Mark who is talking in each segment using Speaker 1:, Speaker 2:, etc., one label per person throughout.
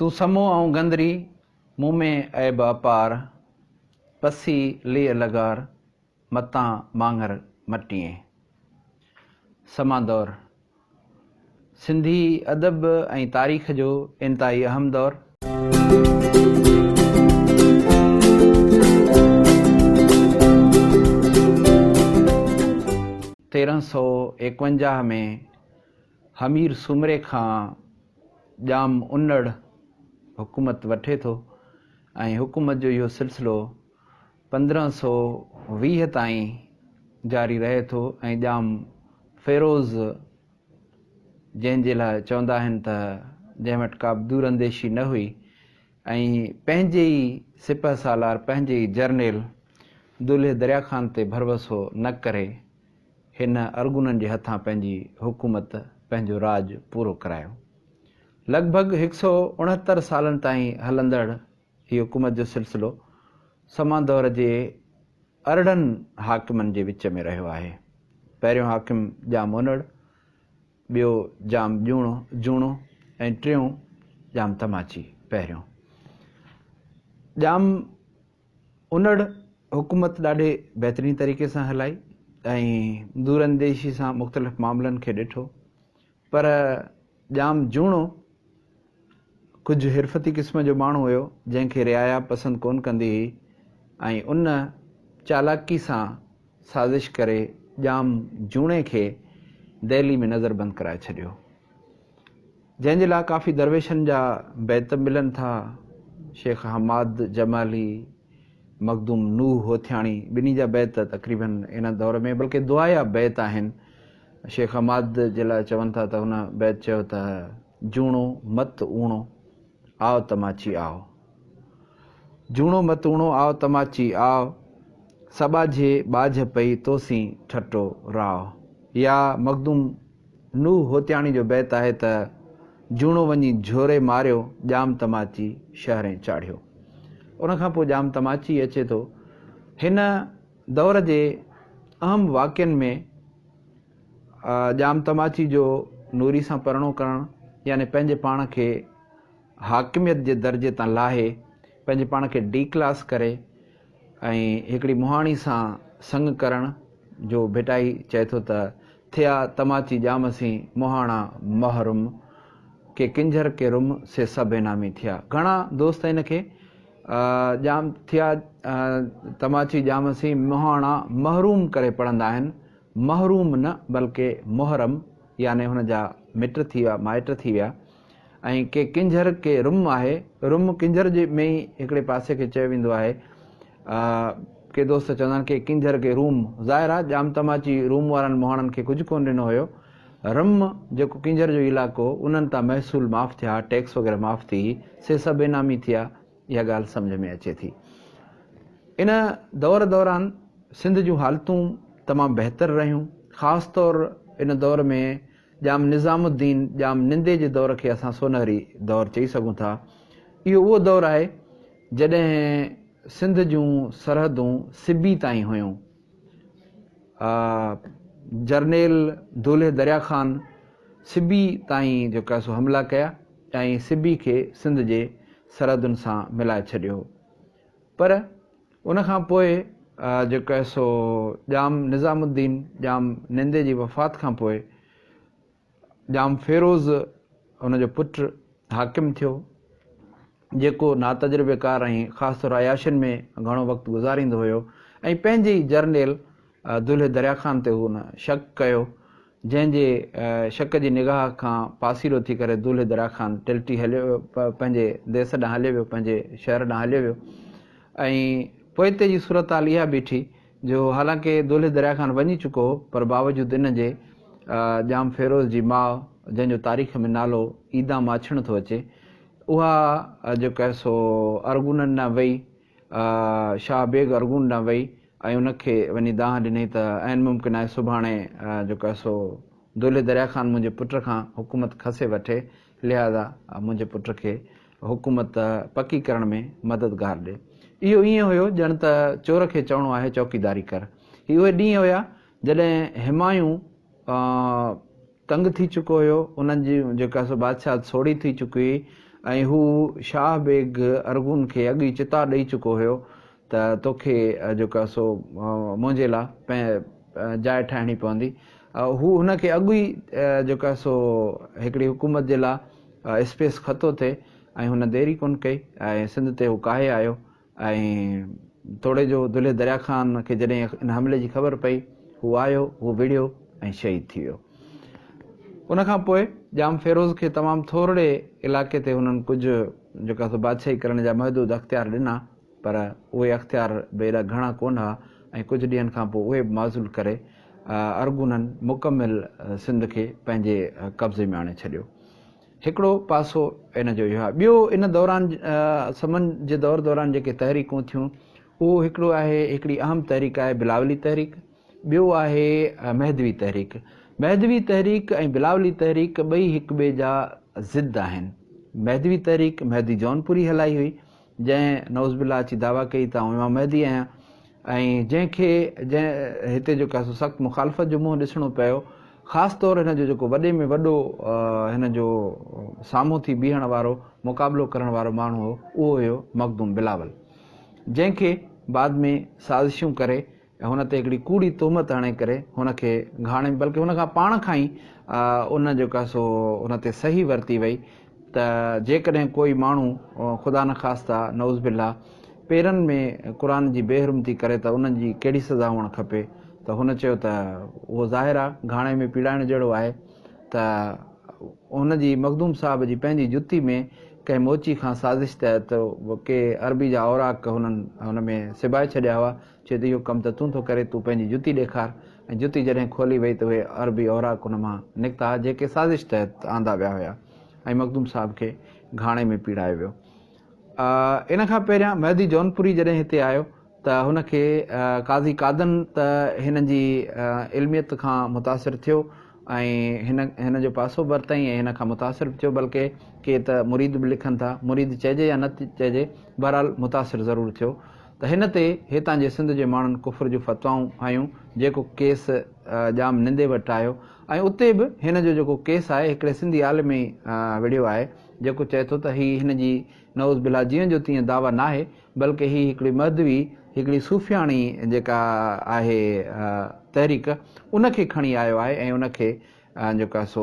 Speaker 1: تون سمو آئون گندري، مون ۾ عيب اپار، پسي ليء لغار، متان ماڱر مٽيين. سما دور، سنڌي ادب ۽ تاريخ جو انتهائي اهم دور. تيرهن سؤ ايڪونجاهه ۾ همير سومري کان ڄام انڙ حڪومت وٺي ٿو ۽ حڪومت جو اهو سلسلو پندرهن سؤ ويهه تائين جاري رهي ٿو ۽ ڄام فيروز جنهن جي لاء چوندا آهن ته جنهن وٽ ڪا به دور انديشي نه هئي ۽ پنهنجي ئي سپه سالار پنهنجي ئي جرنيل دولهي دريا خان تي ڀروسو نه ڪري هن ارغونن جي هٿان پنهنجي حڪومت، پنهنجو راڄ پورو ڪرايو. لڳ ڀڳ هڪ سؤ اڻهتر سالن تائين هلندڙ هي حڪومت جو سلسلو سما دؤر جي ارڙهن حاڪمن جي وچ ۾ رهيو آهي. پهريون حاڪم ڄام اونڙ، ٻيو ڄام جوڻو جوڻو ۽ ٽيون ڄام تماچي. پهريون ڄام. انڙ حڪومت ڏاڍي بهترين طريقي سان هلائي ۽ دورانديشي سان مختلف معاملن کي ڏٺو پر ڄام جوڻو ڪجهه حرفتي قسم جو ماڻهو هيو جنهن کي رعايا پسند ڪون ڪندي هئي ۽ ان چالاڪي سان سازش ڪري ڄام جوڻي کي دهلي ۾ نظر بند ڪرائي ڇڏيو. جنهن جي لاء ڪافي درويشن جا بيت ملن ٿا. شيخ حماد جمالي، مخدوم نوح هوٿياڻي ٻنهي جا بيت تقريباً ان دور ۾ بلڪه دعايا بيت آهن. شيخ حماد جي لاء چون ٿا ته هن بيت چيو ته جوڻو مت اوڻو. آء تماچي آء جوڻو متوڻو آء تماچي آء سٻاجهي ٻاجهه پئي توسين ٺٽو راء يا مخدوم نوح هوتياڻي جو بيت آهي ته جوڻو وڃي جهوري ماريو ڄام تماچي شهرين چاڙهيو ان کان پوء ڄام تماچي اچي ٿو هن دور جي اهم واقعن ۾ ڄام تماچي جو نوري سان پرڻو ڪرڻ يعني پنهنجي پاڻ کي حاڪميت جي درجي تان لاهي پنهنجي پاڻ کي ڊي ڪلاس ڪري ۽ هڪڙي مهاڻي سان سڱ ڪرڻ جو ڀٽائي چئي ٿو ته ٿيا تماچي ڄام سين مهاڻا محرم ڪي ڪنجهر ڪي رم سي سڀ انعامي ٿيا گهڻا دوست ان کي ڄام ٿيا تماچي ڄام سين مهاڻا محروم ڪري پڙهندا آهن محروم نه بلڪه محرم يعني هن جا مٽ ٿي ويا مائٽ ٿي ويا ۽ ڪي ڪنجهر ڪي رم آهي رم ڪنجهر جي ۾ ئي هڪڙي پاسي کي چيو ويندو آهي ڪي دوست چوندا آهن ڪي ڪنجهر ڪي روم ظاهر آهي ڄام تماچي روم وارن مهاڻن کي ڪجهه ڪون ڏنو هيو رم جيڪو ڪنجهر جو علائقو انهن تان محصول معاف ٿيا ٽيڪس وغيره معاف ٿي سي سڀ انعامي ٿيا اها ڳالهه سمجهه ۾ اچي ٿي. ان دور دوران سنڌ جون حالتون تمام بهتر رهيون، خاص طور ان دور ۾ ڄام نظام الدين ڄام نندي جي دور کي اسان سونهري دور چئي سگهون ٿا. اهو اهو دور آهي جڏهن سنڌ جون سرحدون سبي تائين هيون. جرنيل دولهي دريا خان سبي تائين جيڪا سو حملا ڪيا ۽ سبي کي سنڌ جي سرحدن سان ملائي ڇڏيو هو پر ان کان پوء جيڪا سو ڄام نظام الدين ڄام نندي جي وفات کان پوء ڄام فيروز ان جو پٽ حاڪم ٿيو، جيڪو ناتجربيڪار ۽ خاص طور عياشين ۾ گهڻو وقت گذاريندو هيو ۽ پنهنجي ئي جرنيل دولهي دريا خان تي هن شڪ ڪيو، جنهن جي شڪ جي نگاهه کان پاسيرو ٿي ڪري دولهي دريا خان ٽلٽي هليو ويو، پنهنجي ديس ڏانهن هليو ويو، پنهنجي شهر ڏانهن هليو ويو ۽ پوئتي جي صورتحال اها بيٺي، جو حالانڪه دولهي درياء کان وڃي چڪو هو پر باوجود ان جي ڄام فيروز جي ماء جنهن جو تاريخ ۾ نالو عيدان ماڇڻ ٿو اچي اها جيڪو آهي سو ارغونن ڏانهن وئي شاهه بيگ ارغون ڏانهن وئي ۽ ان کي وڃي دانهن ڏني ته عين ممڪن آهي سڀاڻي جيڪو آهي سو دولهي درياء خان منهنجي پٽ کان حڪومت کسي وٺي لهذا منهنجي پٽ کي حڪومت پڪي ڪرڻ ۾ مددگار ڏي. اهو ائين هيو ڄڻ ته چور کي چوڻو آهي چوڪيداري ڪر. هي اهي ڏينهن هيا جڏهن همايون تنگ ٿي چڪو هيو، انهن جي جيڪا سو بادشاهت سوڙهي ٿي چڪي هئي ۽ هو شاهه بيگ ارغون کي اڳ ئي چتاء ڏئي چڪو هيو ته توکي جيڪو آهي سو منهنجي لاء جاء ٺاهڻي پوندي. هو هن کي اڳ ئي جيڪو آهي سو هڪڙي حڪومت جي لاء اسپيس خطو ٿي ۽ هن دير ئي ڪونه ڪئي ۽ سنڌ تي هو ڪاهي آيو ۽ توڙي جو دلهي دريا خان کي جڏهن ان حملي جي خبر پئي هو آيو هو وڙهيو ۽ شهيد ٿي ويو. ان کان پوء ڄام فيروز کي تمام ٿورڙي علائقي تي هنن ڪجهه جيڪو آهي سو بادشاهي ڪرڻ جا محدود اختيار ڏنا پر اهي اختيار به ايڏا گهڻا ڪونه ها ۽ ڪجهه ڏينهن کان پوء اهي به معزول ڪري ارغونن مڪمل سنڌ کي پنهنجي قبضي ۾ آڻي ڇڏيو. هڪڙو پاسو ان جو اهو آهي. ٻيو ان دوران سمن جي دور دوران جيڪي تحريڪون ٿيون اهو هڪڙو آهي هڪڙي اهم تحريڪ آهي بلاولي تحريڪ ٻيو آهي مهدوي تحريڪ. مهدوي تحريڪ ۽ بلاولي تحريڪ ٻئي هڪٻئي جا ضد آهن. مهدوي تحريڪ مهدي جونپوري هلائي هئي. جنهن نعوذ بالله اچي دعويٰ ڪئي ته آئون امام مهدي آهيان ۽ جنهن کي جنهن هتي جيڪا سو سخت مخالفت جو منهن ڏسڻو پيو خاص طور هن جو جيڪو وڏي ۾ وڏو هن جو سامهون ٿي بيهڻ وارو مقابلو ڪرڻ وارو ماڻهو هو اهو هيو مخدوم بلاول جنهن کي بعد ۾ سازشون ڪري ۽ هن تي هڪڙي ڪوڙي تهمت هڻي ڪري هن کي گهاڻي بلڪه هن کان پاڻ کان ئي ان جيڪا سو هن تي صحيح ورتي وئي ته جيڪڏهن ڪوئي ماڻهو خدا نخواسته نعوذ بالله پيرن ۾ قرآن جي بي حرمتي ڪري ته ان جي ڪهڙي سزا هئڻ کپي ته هن چيو ته اهو ظاهر آ گهاڻي ۾ پيڙائڻ جهڙو آهي ته هن جي مخدوم صاحب جي پنهنجي جتي ۾ ڪنهن موچي کان سازش تحت ڪي عربي جا اوراق هنن هن ۾ سبائي ڇڏيا هئا چي ته اهو ڪم ته تون ٿو ڪرين، تون پنهنجي جتي ڏيکار. ۽ جتي جڏهن کولي ويئي ته اهي عربي اوراق ان مان نڪتا ها جيڪي سازش تحت آندا ويا هيا ۽ مخدوم صاحب کي گهاڻي ۾ پيڙايو ويو. ان کان پهريان مهدي جونپوري جڏهن هتي آيو ته هن کي قاضي قادن ته هن جي علميت کان متاثر ٿيو ۽ هن هن جو پاسو به ورتائين ۽ هن کان متاثر به ٿيو بلڪه ڪي ته مريد به لکن ٿا مريد چئجي يا نه چئجي بهرحال متاثر ضرور ٿيو. ته هن تي هتان جي سنڌ جي ماڻهن ڪفر جون فتوائون هنيون جيڪو ڪيس ڄام نندي وٽ آيو ۽ اتي به هن جو جيڪو ڪيس آهي هڪڙي سنڌي عالم ئي وڙهيو آهي جيڪو چئي ٿو ته هي هن جي نعوذ بالله جيئن جو تيئن دعويٰ ناهي بلڪه هي هڪڙي مهدوي هڪڙي صوفياڻي جيڪا آهي تحريڪ ان کي کڻي آيو آهي ۽ ان کي جيڪو آهي سو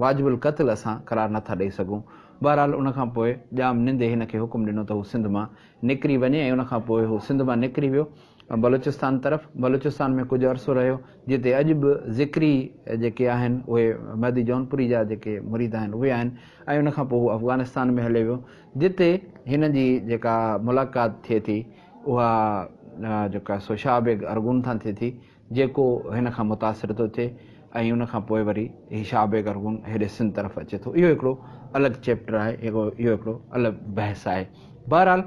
Speaker 1: واجب القتل اسان قرار نه ٿا ڏئي سگهون. بهرحال ان کان پوء ڄام نندي هن کي حڪم ڏنو ته هو سنڌ مان نڪري وڃي ۽ ان کان پوء هو سنڌ مان نڪري ويو بلوچستان طرف. بلوچستان ۾ ڪجهه عرصو رهيو جتي اڄ به ذڪري جيڪي آهن اهي مهدي جونپوري جا جيڪي مريد آهن اهي آهن ۽ ان کان پوء هو افغانستان ۾ هليو ويو جتي هن جي جيڪا ملاقات ٿئي ٿي اها جيڪو آهي سو شاهه بيگ ارغون سان ٿئي ٿي. جيڪو هن کان متاثر ٿو ٿئي ۽ ان کان پوء وري هي شاهه بيگ ارغون هيڏي سنڌ طرف اچي ٿو. اهو هڪڙو الڳ چيپٽر آهي. اهو هڪڙو الڳ بحث آهي. بهرحال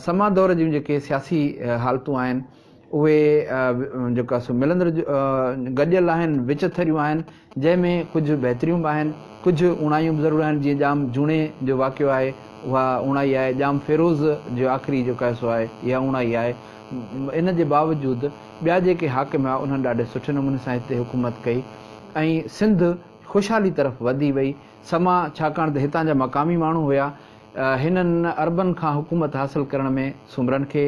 Speaker 1: سما دور جون جيڪي سياسي حالتون آهن اهي جيڪو سو ملندڙ گڏيل آهن، وچٿريون آهن. جنهن ۾ ڪجهه بهتريون به آهن، ڪجهه اوڻايون به ضرور آهن، جيئن ڄام جوڻي جو واقعو آهي، اها اوڻائي آهي، ڄام فيروز جو آخري جو قيصو آهي، اها اوڻائي آهي. ان جي باوجود ٻيا جيڪي حاڪم هئا، انهن ڏاڍي سٺي نموني سان هتي حڪومت ڪئي ۽ سنڌ خوشحالي طرف وڌي وئي. سما ڇاڪاڻ ته هتان جا مقامي ماڻهو هيا، هنن عربن کان حڪومت حاصل ڪرڻ ۾ سومرن کي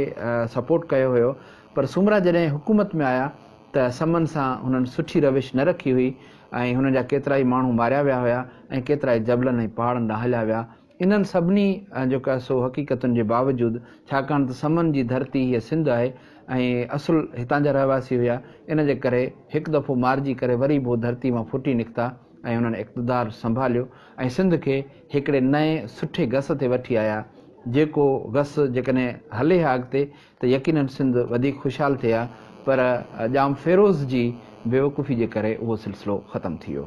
Speaker 1: سپورٽ ڪيو هيو، پر سومرا جڏهن حڪومت ۾ آيا ته سمن سان هنن سٺي روش نه رکي هئي ۽ هنن جا ڪيترائي ماڻهو ماريا ويا هيا ۽ ڪيترائي جبلن ۽ پهاڙن ڏانهن هليا ويا. انهن سڀني جيڪا سو حقيقتن جي باوجود ڇاڪاڻ ته سمن جي ڌرتي هيء سنڌ آهي ۽ اصل هتان جا رهواسي هيا ان جي ڪري هڪ دفعو مارجي ڪري وري به هو ڌرتي مان ڦٽي نڪتا ۽ هنن اقتدار سنڀاليو ۽ سنڌ کي هڪڙي نئين سٺي گس تي وٺي آيا جيڪو گس جيڪڏهن هلي ها اڳتي ته يقينن سنڌ وڌيڪ خوشحال ٿئي ها پر ڄام فيروز جي بيوقوفي جي ڪري اهو سلسلو ختم ٿي ويو.